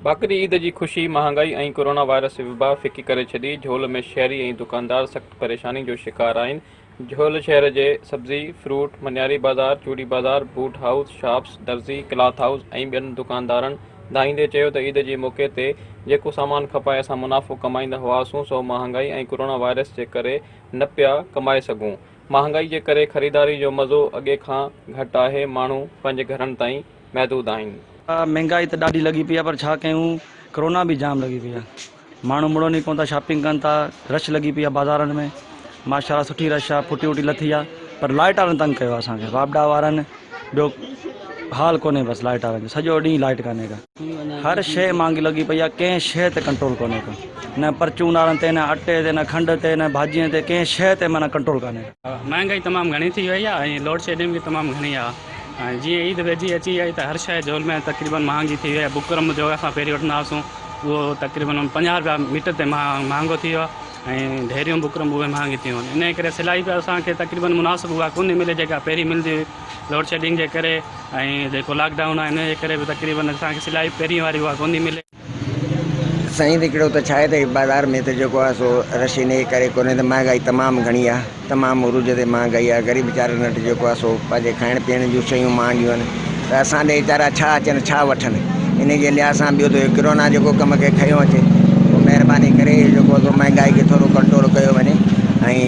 ٻاڪري عيد جي خوشي مهانگائي ۽ ڪورونا وائرس وبا ڦڪي ڪري ڇڏي، جهول ۾ شهري ۽ دڪاندار سخت پريشاني جو شڪار آهن، جهول شهر جي سبزي، فروٽ، منياري بازار، چوڙي بازار، بوٽ هائوس، شاپس، درزي، ڪلاٿ هائوس ۽ ٻين دڪاندارن ڌائيندي چيو ته عيد جي موقعي تي جيڪو سامان کپائي اسان منافعو ڪمائيندا هئاسون سو مهانگائي ۽ ڪورونا وائرس جي ڪري نه پيا ڪمائي سگهون، مهانگائي جي ڪري خريداري جو مزو اڳي کان گهٽ آهي، ماڻهو پنهنجي گهرن تائين محدود آهن. مهانگائي ته ڏاڍي لڳي پئي آهي پر ڇا ڪيون ڪورونا به جام لڳي پئي آهي. ماڻهو مڙن ئي ڪونه ٿا شاپنگ ڪن ٿا رش لڳي پئي آهي بازارن ۾ ماشاءالله سٺي رش آهي ڦٽي وٽي لٿي آهي پر لائٽ وارن تنگ ڪيو آهي اسانکي واپڊا وارن ٻيو حال ڪونهي بس لائٽ وارن جو سڄو ڏينهن لائٽ ڪانهي ڪا هر شيء مهانگي لڳي پئي آهي ڪنهن شيء تي ڪنٽرول ڪونهي ڪا نه پرچون وارن تي نه اٽي تي نه کنڊ تي نه ڀاڄين تي ڪنهن شيء تي معنيٰ ڪنٽرول ڪانهي ڪا. مهانگائي تمام گهڻي ٿي وئي آهي ۽ لوڊشيڊنگ به تمام گهڻي آهي ۽ جيئن عيد ويجهي اچي آئي ته هر شيء جهول ۾ تقريبن مهانگي ٿي وئي آهي بڪرم جو اسان پهرين وٺندا هئاسون اهو تقريبن پنجاهه رپيا ميٽر تي مهانگو ٿي ويو آهي ۽ ڍيريون بڪرم به اهي مهانگي ٿي ويون آهن انهيء ڪري سلائي به اسان کي تقريبن مناسب اها ڪونهي ملي جيڪا پهرين ملندي هئي لوڊشيڊنگ جي ڪري ۽ جيڪو لاڪ ڊائون آهي انهيء جي ڪري به تقريبن اسان کي سلائي پهرين واري اها ڪونهي ملي سائين هڪڙو ته ڇا آهي ته بازار ۾ ته جيڪو آهي سو رش انهي ڪري ڪونهي ته مهانگائي تمام گهڻي آهي تمام عروج تي مهانگائي آهي غريب ويچارن وٽ جيڪو آهي سو پنهنجي کائڻ پيئڻ جون شيون مهانگيون آهن ته اسان ڏي ويچارا ڇا اچن ڇا وٺن انهي جي لحاظ سان ٻيو ته اهو ڪرونا جيڪو ڪم کي کنيو اچي پوء مهرباني ڪري اهو جيڪو آهي سو مهانگائي کي ٿورو ڪنٽرول ڪيو وڃي ۽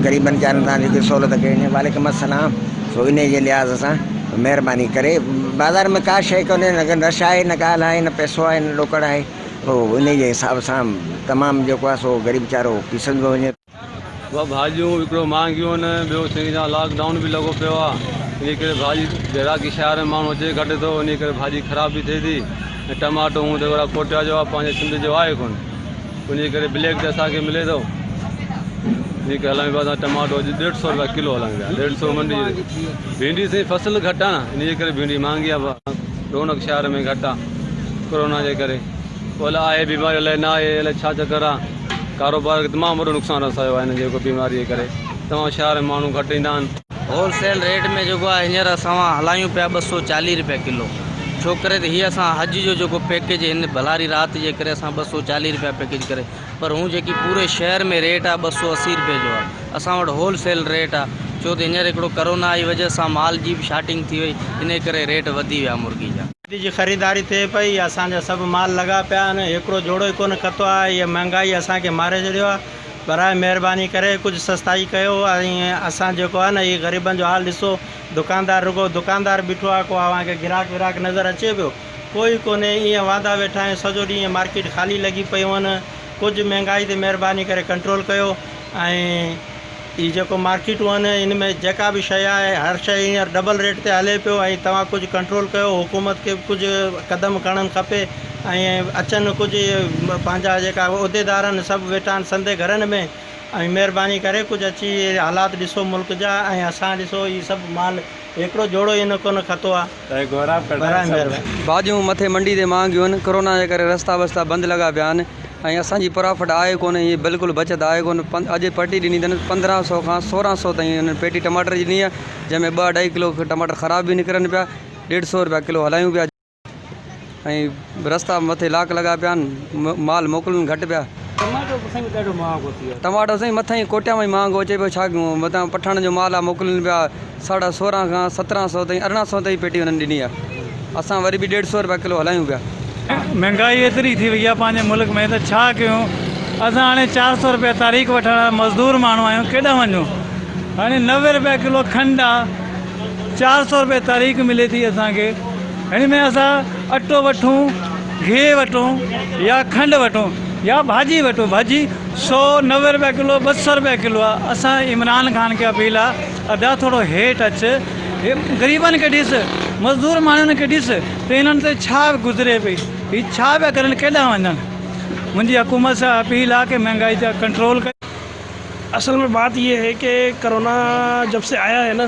غريبن ويچارن سان جيڪي سهولت ڪئي وڃي وعليڪم السلام سو انهي جي لحاظ سان مهرباني ڪري بازار ۾ ڪا شيء ڪونهي نه ڪو نش آهي نه ڳالهه آهي نه پئسو آهي نه ڏوڪڙ آهي هو انهي جي حساب سان تمام جيڪو آهي سو غريب ويچارو پيسندو وڃي ٻه ڀاڄيون وڪڻو مهانگيون آهن ٻيو سائين جان لاڪ ڊائون به لڳو پيو آهي انهي ڪري ڀاڄي گراڪي شهر ۾ ماڻهو اچي گهٽ ٿو انهي ڪري ڀاڄي خراب به ٿئي ٿي ۽ ٽماٽو هون ته اهڙا ڪوٽيا جو آهي پنهنجي سنڌ جو آهي ڪونه انهيء ڪري بليڪ تي اسان کي ملي ٿو. جيڪي هلائين پيا اسان ٽماٽو اڄ ڏيڍ سئو رپيا ڪلو هلائين پيا. ڏيڍ سئو منڊي جي ڀينڊي سائين فصل گهٽ آهي نه انهيء ڪري ڀينڊي مهانگي آهي. رونق شهر ۾ گهٽ آهي ڪورونا جي ڪري. پوء الاء آهي بيماري الاء نه آهي الاء ڇا چڪر آهي. ڪاروبار کي تمام وڏو نقصان رسايو آهي هن جيڪو بيماري جي ڪري. تمام شهر ۾ ماڻهو گهٽ ايندا آهن. هول سيل ريٽ ۾ جيڪو آهي هينئر اسان وان هلايون پيا ٻه سؤ چاليهه رپيا ڪلو ڇو ڪري ته هي اسان حج جو جيڪو پيڪيج هن ڀلاري رات جي ڪري اسان ٻه سؤ چاليهه رپيا پيڪيج ڪري پر هون جيڪي پوري شهر ۾ ريٽ آهي ٻه سؤ اسي رپيا جو آهي اسان وٽ هول سيل ريٽ آهي ڇو ته هينئر هڪڙو ڪرونا جي وجه سان مال جي به شارٽنگ ٿي وئي انهي ڪري ريٽ وڌي ويا مرغي جا. عيد جي خريداري ٿئي پئي، اسان جا سڀ مال لڳا پيا آهن، هيڪڙو جوڙو ئي ڪونه کتو آهي، هيء مهانگائي اسان کي ماري ڇڏيو آهي، براء مهرباني ڪري ڪجهه سستائي ڪيو ۽ اسان جيڪو آهي نه هي غريبن جو حال ڏسو، دڪاندار رڳو دڪاندار بيٺو آهي، ڪو اوهان کي گراهڪ وراهڪ نظر اچي پيو؟ ڪو ئي ڪونهي، ايئن واندا ويٺا آهيون، سڄو ڏينهن ايئن مارڪيٽ خالي لڳي پيون آهن، ڪجهه مهانگائي تي مهرباني ڪري ڪنٽرول ڪيو ۽. هي جيڪو مارڪيٽون آهن ان ۾ جيڪا به شيء آهي هر شيء هينئر ڊبل ريٽ تي هلي پيو ۽ توهان ڪجهه ڪنٽرول ڪيو حڪومت کي به ڪجهه قدم کڻڻ کپي ۽ اچن ڪجهه اهي پنهنجا جيڪا عهديدار آهن سڀ ويٺا آهن سندي گهرن ۾ ۽ مهرباني ڪري ڪجهه اچي حالات ڏسو ملڪ جا ۽ اسان ڏسو هي سڀ مال هڪڙو جوڙو هي نه ڪونه کتو آهي ڀاڄيون مٿي منڊي تي مهانگيون آهن، ڪورونا جي ڪري رستا وستا بند لڳا پيا آهن ۽ اسان جي پرافٽ آهي ڪونه هي بلڪل بچت آهي ڪونه اڄ پرٽي ڏني اٿن پندرهن سئو کان سورهن سئو تائين انهن پيٽي ٽماٽر جي ڏني آهي جنهن ۾ ٻه اڍائي ڪلو ٽماٽر خراب به نڪرن پيا ڏيڍ سئو رپيا ڪلو هلايون پيا. ۽ رستا مٿي لاڪ لڳا پيا آھن مال موڪلن گهٽ پيا. ٽماٽو به سائين ڏاڍو مھانگو ٿي ويو آھي. ٽماٽو سائين مٿان ئي ڪوٽيان مان ئي مھانگو اچي پيو ڇا ڪيون متان پٺاڻن جو مال آ موڪلن پيا ساڍا سورهن کان سترهن سئو تائين ارڙهن سئو تائين پيٽي انهن ڏني آ اسان وري به ڏيڍ سئو روپيا ڪلو هلايون پيا. مھنگائي ايتري ٿي وئي آ پنهنجي ملڪ ۾ ته ڇا ڪيون اسان هاڻي چار سئو روپيا تاريخ وٺڻ وارا مزدور ماڻهو آھيون ڪيڏانهن وڃون هاڻي نوي روپيا ڪلو کنڊ آ چار سئو روپيا تاريخ ملي ٿي اسان کي. هن ۾ اسان اٽو وٺون، گيهه وٺون يا کنڊ وٺون يا ڀاڄي وٺون ڀاڄي سو نوي روپيا ڪلو ٻه سو روپيا ڪلو آ اسان عمران خان کي اپيل آ ادا ٿورو هيٺ اچ غريبن کي ڏس مزدور ماڻهن کي ڏس ته انهن تي ڇا گذري پئي هي ڇا پيا ڪرن ڪيڏانهن وڃن منهنجي حڪومت سان اپيل آ ڪي مهنگائي تي ڪنٽرول ڪري. اصل مين بات يي هي ڪي ڪرونا جب سي آيا هي نا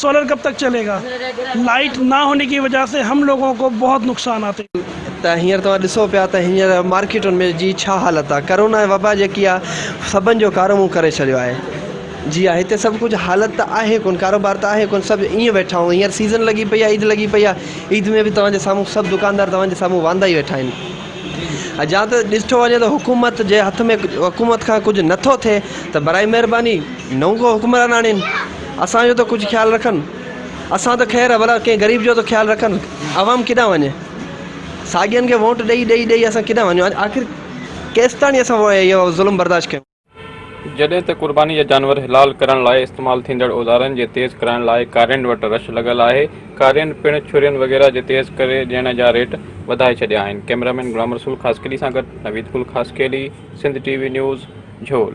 سولر ڪب تڪ چلي گا لائيٽ نا هوني ڪي وجه سي هم لوگو ڪو بهت نقصان آتي. ته هينئر توهان ڏسو پيا ته هينئر مارڪيٽن ۾ جي ڇا حالت آ ڪرونا وبا جيڪي آ سڀن جو ڪارو منهن ڪري ڇڏيو آهي جي آ هتي سڀ ڪجهه حالت ته آهي ڪون ڪاروبار ته آهي ڪون سڀ ائين ويٺا آهون هينئر سيزن لڳي پئي آ عيد لڳي پئي آ عيد ۾ به توهان جي سامهون سڀ دڪاندار توهان جي سامهون واندا ئي ويٺا آهن جا ته ڏسٺو وڃي ته حڪومت جي هٿ ۾ حڪومت کان ڪجهه نٿو ٿئي ته براء مهرباني نئون ڪو حڪمران آڻين. اسان جو ته ڪجهه خيال رکن. اسان ته خير ڀلا ڪنهن غريب جو ته خيال رکن. عوام ڪيڏانهن وڃي؟ ساڳين کي ووٽ ڏئي ڏئي ڏئي اسان ڪيڏانهن وڃون؟ آخر ڪيستاڻي اسان اهو ظلم برداشت ڪيون؟ جڏهن ته قرباني جا جانور حلال ڪرڻ لاء استعمال ٿيندڙ اوزارن جي تيز ڪرائڻ لاء ڪارين وٽ رش لڳل آهي. ڪارين پڻ ڇرين وغيره جي تيز ڪري ڏيڻ جا ريٽ وڌائي ڇڏيا آهن. ڪئميرامين غلام رسول خاصخيلي سان گڏ Naveed Gul Khaskheli, Sindh T V news, جهول.